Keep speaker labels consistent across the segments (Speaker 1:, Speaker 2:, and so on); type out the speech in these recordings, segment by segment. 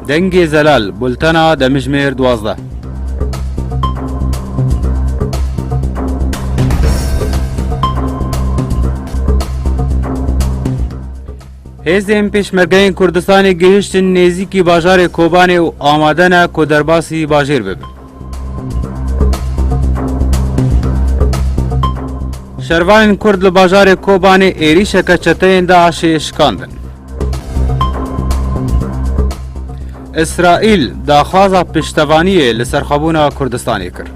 Speaker 1: Dengê zelal bultena demijimêr duwazdeh. Hêzên pêşmergeyên Kurdistanê gihiştin nêzîkî bajarê Kobanê û amade ne ku derbasî bajêr bibin. Şervanên Kurd li bajarê Kobanê êrîşeke çeteyên DAIŞ'ê şikandin. Îsraîl daxwaza piştevaniyê li serxwebûna Kurdistanê kir.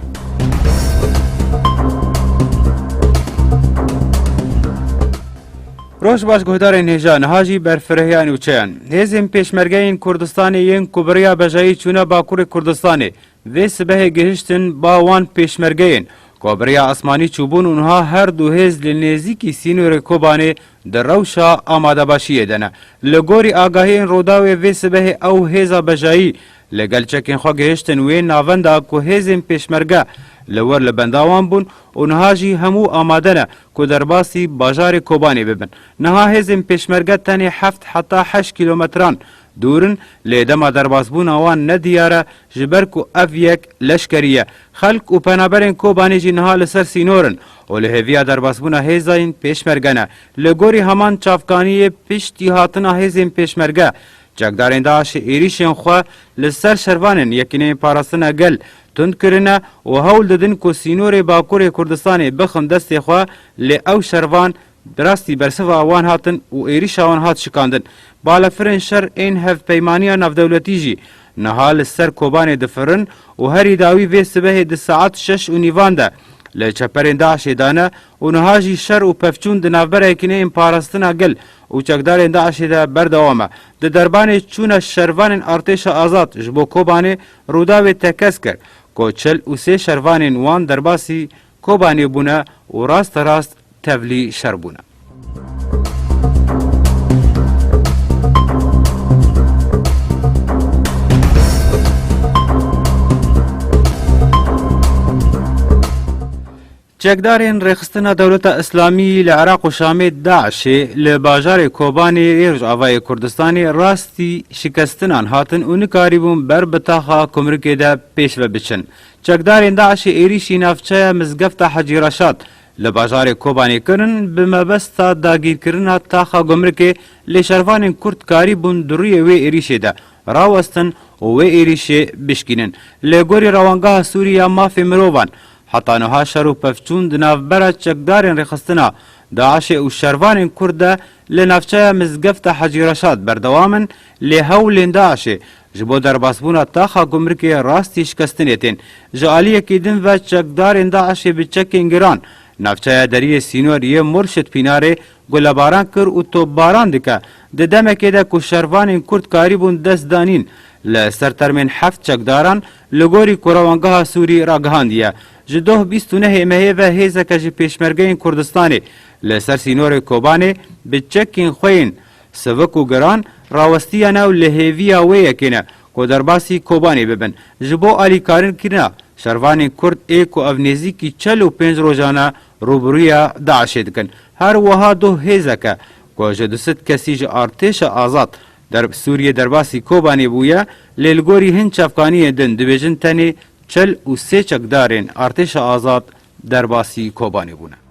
Speaker 1: Roj baş guhdarên hêja niha jî ber firehya nûçeyan. Hêzên pêşmergeyên Kurdistanê yên ku bi riya bejayî çûne Bakurê Kurdistanê vê sibehê gihiştin ba wan pêşmergeyên ku bi riya esmanî çûbûn û niha her du hêz li nêzîkî sînorê Kobanê di rewşa amadebaşiyê de ne. Li gorî agahiyên Rûdawê vê sibehê ew hêza bejayî li gel çekên xwe gihiştin wê navenda ku hêzên pêşmerge li wir li benda wan bûn û niha jî hemû amade ne ku derbasî bajarê Kobanê bibin. Niha hêzên pêşmerge tenê heft heta heşt kîlometran dûr in, lê dema derbasbûna wan ne diyar e, ji ber ku ev yek leşkerî ye. Xelk û penaberên Kobanê jî niha li ser sînor in û li hêviya derbasbûna hêzayên pêşmerge ne. Li gorî heman çavkaniyê, piştî hatina hêzên pêşmerge, Çekdarên DAIŞ'ê êrîşên xwe li ser şervanên Yekîneyên Parastina Gel tund kirine û hewl didin ku sînorê Bakurê Kurdistanê bixin destê xwe, lê ew şervan bi rastî bersiva wan hatin û êrîşa wan hat şikandin. Balafirên şer ên Hevpeymaniya Navdewletî jî niha li ser Kobanê difirin û herî dawî vê sibehê di saet şeş û nîvan de li çeperên DAIŞ'ê dane û niha jî şer û pevçûn di navbera Yekîneyên Parastina Gel û çekdarên DAIŞ'ê de berdewam e. Di derbanê çûna şervanên Artêşa Azad ji bo Kobanê Rûdawê tekez kir ku çil û sê şervanên wan derbasî Kobanê bûne û rasterast tevlî şer bûne. Çekdarên Rêxistina Dewleta Îslamî li Iraq û Şamê, DAIŞ'ê, li bajarê Kobanê yê Rojavayê Kurdistanê rastî şikestinan hatin û nikarîbûn ber bi taxa kumrikê de pêş ve biçin. Çekdarên DAIŞ'ê êrîşî navçeya Mizgefta Hecî Reşad li bajarê Kobanê kirin bi mebesta dagîrkirina taxa gumrikê lê şervanên Kurd karîbûn di rûyê wê êrîşê de rawestin û wê êrîşê bişkînin. Li gorî Rewangeha Sûrî ya Mafê Mirovan, Heta niha şer û pevçûn di navbera çekdarên rêxistina DAIŞ'ê û şervanên Kurd de li navçeya Mizgefta Hecî Reşad berdewam in, lê hewlên DAIŞ'ê ji bo derbasbûna taxa gumrikê rastî şikestinê tên. Ji aliyekî din ve çekdarên DAIŞ'ê bi çekên giran navçeya deriyê sînor yê Murşid Pînarê gulebaran kir û topbaran dike, di demekê de ku şervanên Kurd karîbûn destdanîn li ser termên heft çekdaran, Li gorî ku Rewangeha Sûrî ragihandiye, ji doh bîst û nehê mehê ve hêzeke ji Pêşmergeyên Kurdistanê li ser sînorê Kobanê bi çekên xwe yên sivik û giran rawestiyene û li hêviya wê yekê ne ku derbasî Kobanê bibin ji bo alîkarin kirina şervanên Kurd ê ku ev nêzîkî çel û pênc rojan e rûbirûya DAIŞ'ê dikin. Her wiha doh hêzeke ku ji du sed kesî ji artêşa azad Derb Sûriyê derbasî Kobanê bûye, lê li gorî hin çavkaniyên din dibêjin tenê çil û sê çekdarên Artêşa Azad derbasî Kobanê bûne.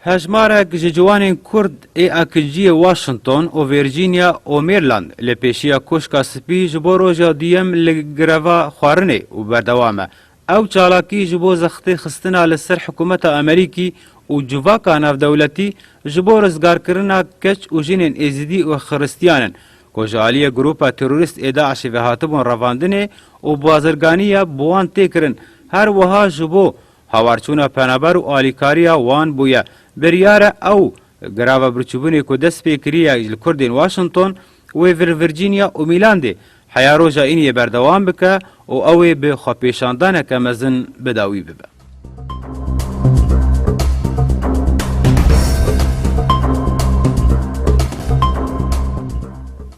Speaker 1: Hejmarek ji ciwanên Kurd ê akinciyê Washington û Virginia û Maryland li pêşiya Koşka Spî ji bo roja duyem li greva xwarinê û berdewam e. Ew çalakî ji bo zextê xistina li ser hikûmeta Amerîkî û civaka navdewletî ji bo rizgarkirina keç û jinên Êzidî û Xiristiyan in ku ji aliyê grûpa terorîst ê DAIŞ'ê ve hatibûn revandinê û bazirganî ya bi wan tê kirin, her wiha ji bo Hawarçûna penaber û alîkariya wan bûye. Biryar e ew greva birçîbûnê ku dest pê kiriye li Kurdên Washington, wê vir Virginia û Mîlandê heya roja îniyê berdewam bike û ew ê bi xwepêşandaneke mezin bi dawî bibe.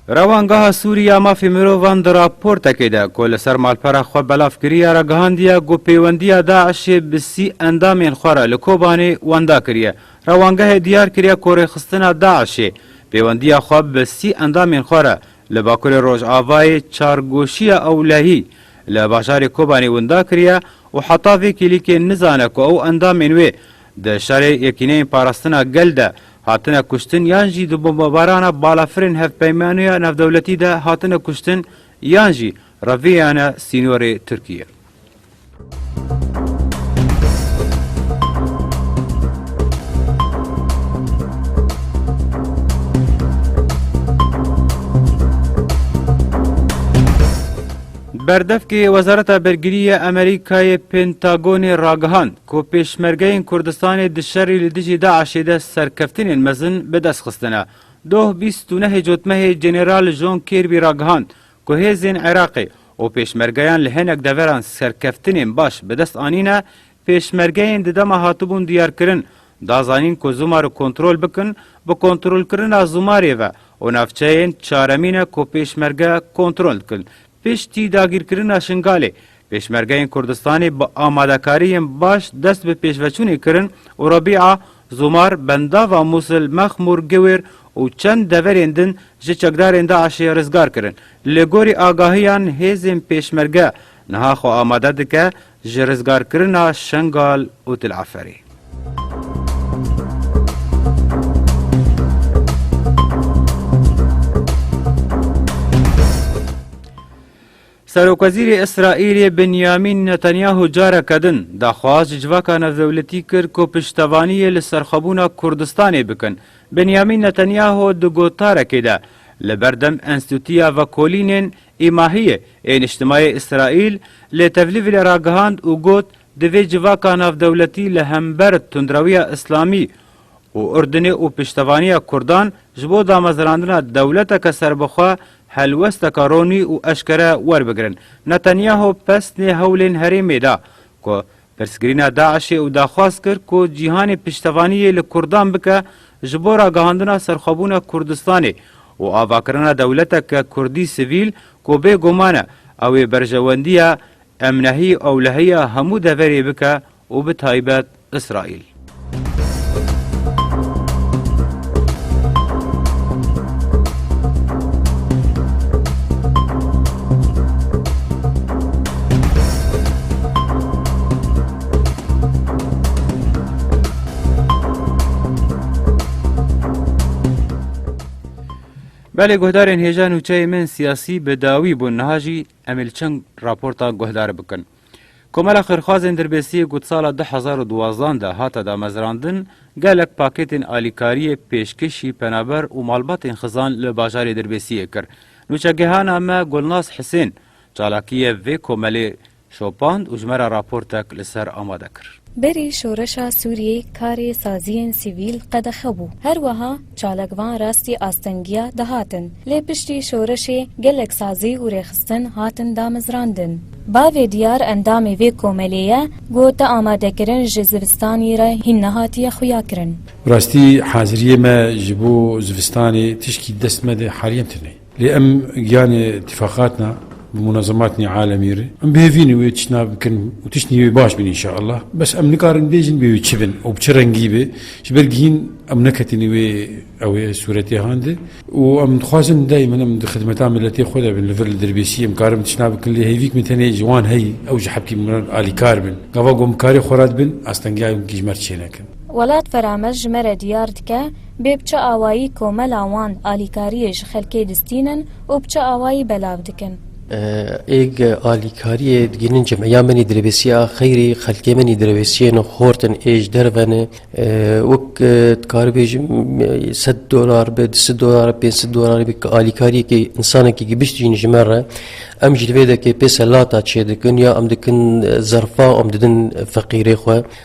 Speaker 1: Rewangeha Sûrî ya Mafê Mirovan di raportekê de ku li ser malpera xwe belav kiriye re gihandiye ku pêwendiya DAIŞ'ê bi sî endamên xwe re li Kobanê wenda kiriye. Rewangehê diyar kiriye ku rêxistina DAIŞ'ê pêwendiya xwe bi sî endamên xwe re li Bakurê Rojavayê çargoşiya ewlehî li bajarê Kobanê winda kiriye û heta vê kêlîkê nizane ku ew endamên wê Di şerê Yekîneyên Parastina Gel de hatine kuştin yan jî di bombebarana balafirên hevpeymaniya navdewletî de hatine kuştin yan jî reviyane sînorê Tirkiyê. Berdevkê Wezareta Bergirî ya Amerîkayê Pentagonê ragihand, Ku Pêşmergeyên Kurdistanê di şerî li dijî DAIŞ'ê de serkeftinên mezin bi dest xistine. Doh bîst û nehê cotmehê General John Kirby ragihand ku hêzên Iraqê û pêşmergeyan li hinek deveran serkeftinên baş bi dest anîne, pêşmergeyên di dema hatibûn diyarkirin da zanîn ku Zumar'ı kontrol bikin, bi kontrolkirina Zumar'ê ve û navçeyên çaremîne ku pêşmerge kontrol dikin. Piştî dagîrkirina Şingalê Pêşmergeyên Kurdistanê bi amadekariyên baş dest bi pêşveçûnê kirin û Rebîa, Zomar, Bendava Mûsil, Mexmûr, Giwêr û çend deverên din ji çekdarên DAIŞ'ê rizgar kirin. Li gorî agahiyan hêzên Pêşmerge niha xwe amade dike ji rizgarkirina Şengal û Til'eferê. Serokwezîrê Îsraîlê Binyamîn Netanyahu careke din daxwaz ji civaka navdewletî kir ku piştevaniyê li serxwebûna Kurdistanê bikin. Binyamîn Netanyahu di gotarekê de li ber dem Enstîtuya Vekolînên, Îmahiyê, ê Niştimayê Îsraîl li Tevlîvlê ragihand û got, Divê civaka navdewletî li hember tundrewiya Îslamî û Urdunê û piştevaniya Kurdan ji bo damezrandina dewleteke serbixwe Helwesteka ronî û eşkere werbigirin, Netanyahu pesnê hewlên herêmê da ku pirsgirîna DAIŞ'ê û daxwaz kir ku cîhanê piştevaniyê li Kurdan bike ji bo ragihandina serxwebûna Kurdistanê û avakirina dewleteke Kurdî sivîl ku bê guman e ew ê berjewendiya emnehî ewlehiya hemû deverê bike û bi taybet Îsraîl. Belê guhdarên hêja nûçeyê me yên siyasî bi dawî bûn niha jî em ê li çend raporta guhdar bikin. Komela Xêrxwazên Dirbêsiyê ku di sala du hezar û duwazdeh de hate damezrandin, gelek pakêtên alîkariyê pêşkêşî penaber û malbatên xizan li bajarê Dirbêsiyê kir. Nûçegehana me Gulnaz Hisên çalakiyê vê komelê şopand û ji me re raportek li ser amade kir. Berî şoreşa
Speaker 2: Sûriyê karê saziyên sivîl qedexe bû. Her wiha çalakvan rastî astengiya dihatin. Lê piştî şoreşê gelek sazî û rêxistin hatin damezrandin. Bavê diyar endamê vê komelê ye got te amadekirin ji zivistanî re hîn nehatiye xuyakirin. Bi rastî haziriyê
Speaker 3: me ji bo zivistanê tişkî di dest me de haliyen tune. Lê em giyanê tîfaqat na bi munezemat nê alemî re. Em bi hêvînê wê tiştna bikin û tiştnî wê baş bîn înşeallah. Bes em nikarin bêjin bê wê çi bin û bi çi rengî be. Ji ber gihîn em neketînê wê ew ê sûretê han de û em dixwazin daymen em di xidmeta miletê xwe de bin. Li vir li dirbêsî em karin tiştna bikin lê hêvîk min tenê ji wan heyî ew ji hepkî min re alîkar bin. Gava ku em bi karê xwe re dibin astengiyayê hûn kî ji me re çênekin. Welat vera
Speaker 2: me ji me re diyar dike bê bi çi awayî komela wan alîkariyê ji xelkê distînin û bi çi awayî belav dikin. Êg
Speaker 4: alîkariyê digihînin cem ya min î dirêvêsî ya xeyrî xelkê min î dirêvêsîyê ne xort in ê ji derve ne wek dikaribêjim sed dolar be di sid dolar pênc sid dolar be ki alîkariyekê însanekî gibişt jîn ji me re em jî li vê dekê pê selata çêdikin ya em dikin zerfa em didin feqîrê xwe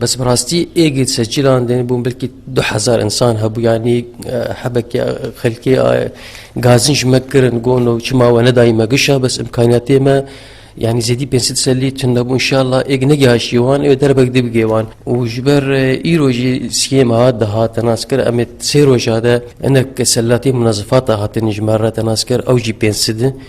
Speaker 4: Bes bi rastî êgê di ser çîlan de bûn belkî du hezar însan hebû yanî hebekê xelkê gazin ji me kirin gon û çima we nedayî me gişa bes imkaniyatê me yani zêdî pênc sed selî tun nebû inşallah êg negihaşî wan ê derbek dibigê wan û ji ber îro jî siyêm hat dihat nas kir em ê sê roja de hinek selatê munazifata hatin ji me re nas kir ew jî pênc sidin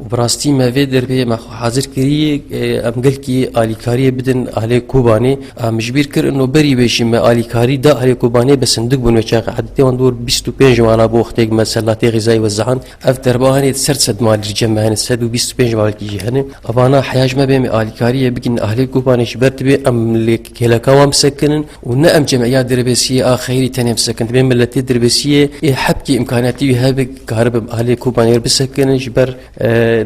Speaker 4: Û bi rastî me vê derveyê me xwe hazir kiriye em gelkî alîkariyê bidin ahlê Kobanê. Em ji bîr kir ino berî wê jî me alîkarî da ahlê Kobanê bi sindik bûn wê çaxê edetê wan dor bîst û pênc wana bo wextê ku me selatê xîzayî wezahand. Ev derba hene di ser sed malî cem me hene sed û bîst û pênc malkî jî hene. Evana heya ji me bê me alîkariyê bikin ahlê Kobanê ji ber dibe em li Kêleka wan bisekinin û ne em cemîya dirbêsiyê a xeyrî tenê bisekin. Divê miletê dirbêsiyê ê hepkî imkaniyetî wî hebe karibe bi aliyê Kobanê re bisekinin ji ber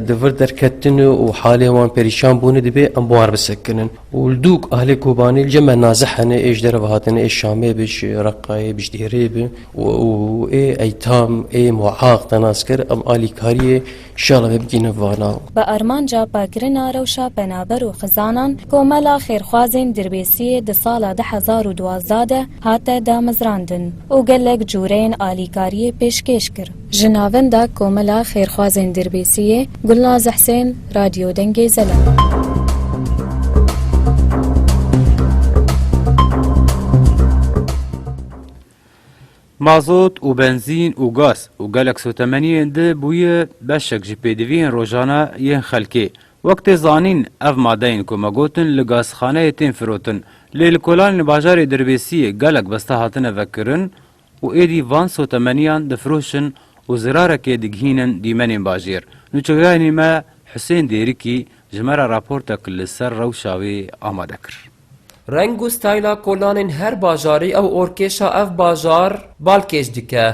Speaker 4: di vir derketinê û halê wan perîşan bûnê dibê em bi wan re bisekinin û li dû ku aliyê Kobanê li cem me nazih hene ê ji derve hatine ê Şamê bi ji Reqayê bi ji Dêrê bi û ê Eytam ê Muaq te nas kir em alîkariyê Şala me bigihîne vana. Bi armanca
Speaker 2: paqirina rewşa penaber û xizanan, Komela Xêrxwazên Dirbêsiyê di sala du hezar û duwazdeh de hate damezrandin û gelek cureyên alîkariyê pêşkêş kir. Ji navenda Komela Xêrxwazên Dirbêsiyê, Gulnaz Husên, Radyo Dengê Zelal.
Speaker 1: Mazot û benzîn û gaz û gelek sotemeniyên di bûye beşek ji pêdiviyên rojane yên xelkê. Wek tê zanîn ev madeyên ku me gotin li gazxaneyê tên firotin. Lê li kolanên li bajarê Dirbêsiyê gelek besta hatine vekirin û êdî van sotemeniyan difiroşin û zirarekê digihînin dîmenên bajêr. Nûçeweyanê me Husên Dêrikî ji me re raportek li ser rewşa wê amade kir. Reng û
Speaker 5: stayla kolanên her bajarî ew orkêşa ev bajar balkêş dike.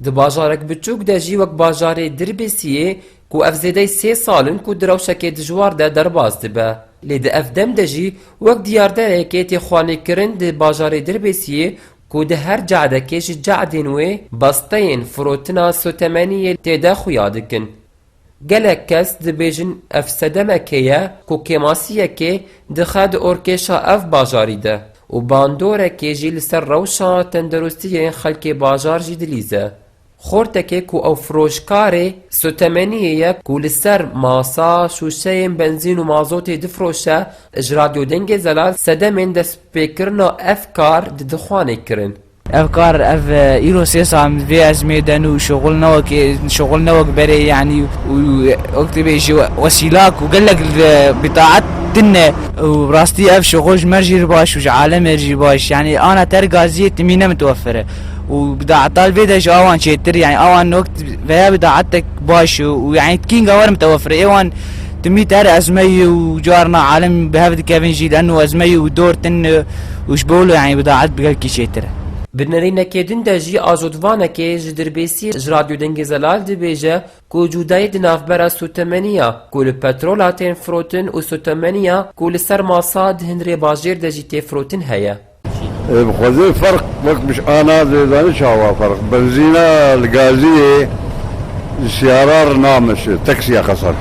Speaker 5: Di bajarek biçûk de jî wek bajarê Dirbisiyê ku ev zêdey sê sal in ku di rewşekê dijwar de derbas dibe. Lê di ev dem de jî wek diyarderekê tê xwelnîkirin di bajarê Dirbisiyê ku di her ce'dekê ji ce'dên wê besteyên firotina sotemeniyê tê de xuya dikin. Gelek kes dibêjin ev sedemekê ye ku kêmasiyekê dixe di orkêşa ev bajarî de û bandorekê jî li ser rewşa tendirustî yên xelkê bajar jî dilîze. Xortekê ku ew firoşkarê sotemeniyê ye ku li ser masa şûşeyên benzîn û mazotê difiroşe ji Radyo Dengê Zelal sedemên destpêkirina ev kar di dixwanê kirin. Ev kar ev
Speaker 6: îro sê sal min vê ezmê de ne û şixul ne wek şixul ne wek berê yanî û wek tu bê ji wesîlak û gelek li bîtaet tune û bi rastî ev şixul ji me jî baş û ji alemê jî baş yanî ana te gazîyê timî ne mitwefir e û bîtaeta li vê de ji awan çêtir yanî awan wek veya bîtaetek baş û yanî tikînga wer mitwefir e êwan timî te her ezmeyî û carna alem bi hev dikevin jî lano ezmeyî û dor tune û ji bo li îbdaet bi gelkî çêtir e. Di nirînekê
Speaker 5: din de jî ajotvanekê ji dirbêsî ji Radyo Dengê Zelal dibêje ku cûdayî di navbera sotemeniya ku li petrola tên firotin û sotemeniya ku li ser masa di hin rêbajêr de jî tê firotin heye. Ê bixweze
Speaker 7: ferq wek mij a na dê zanî çawa ferq benzîna li gaziyê ji siyara re nameşe taksiya xeser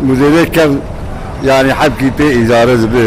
Speaker 7: û zêde kes yanî hevkî pê îdare dibe.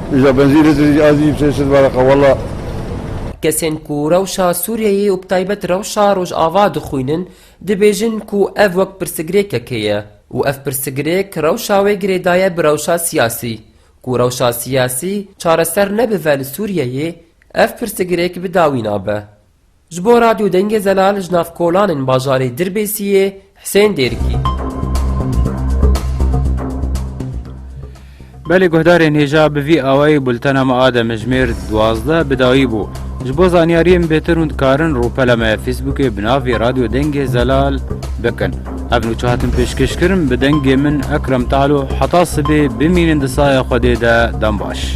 Speaker 7: Îja benzîn li Tirîc a zî sê sed baraqa wela. Kesên
Speaker 5: ku rewşa Sûriyeyê û bi taybet rewşa Rojava dixwînin dibêjin ku ev wek pirsgirêkekê ye û ev pirsgirêk rewşa wê girêdaye bi rewşa siyasî. Ku rewşa siyasî çareser nebive li Sûriyeyê ev pirsgirêk bi dawî nabe. Ji bo Radyo Dengê Zelal ji nav kolanên bajarê Dirbêsiyê, Husên Dêrikî.
Speaker 1: Belê guhdarên hêja bi vî awayî bultena me a demijmêr duwazdeh bi dawî bû. Ji bo zanyariyên bêtir hûn dikarin rûpela me ya fîsbûkê bi navê Radyo Dengê Zelal bikin. Ev nûçe hatin pêşkêşkirin bi dengê min Ekrem Talo heta sibê bimînin di saya Xwedê de dem baş.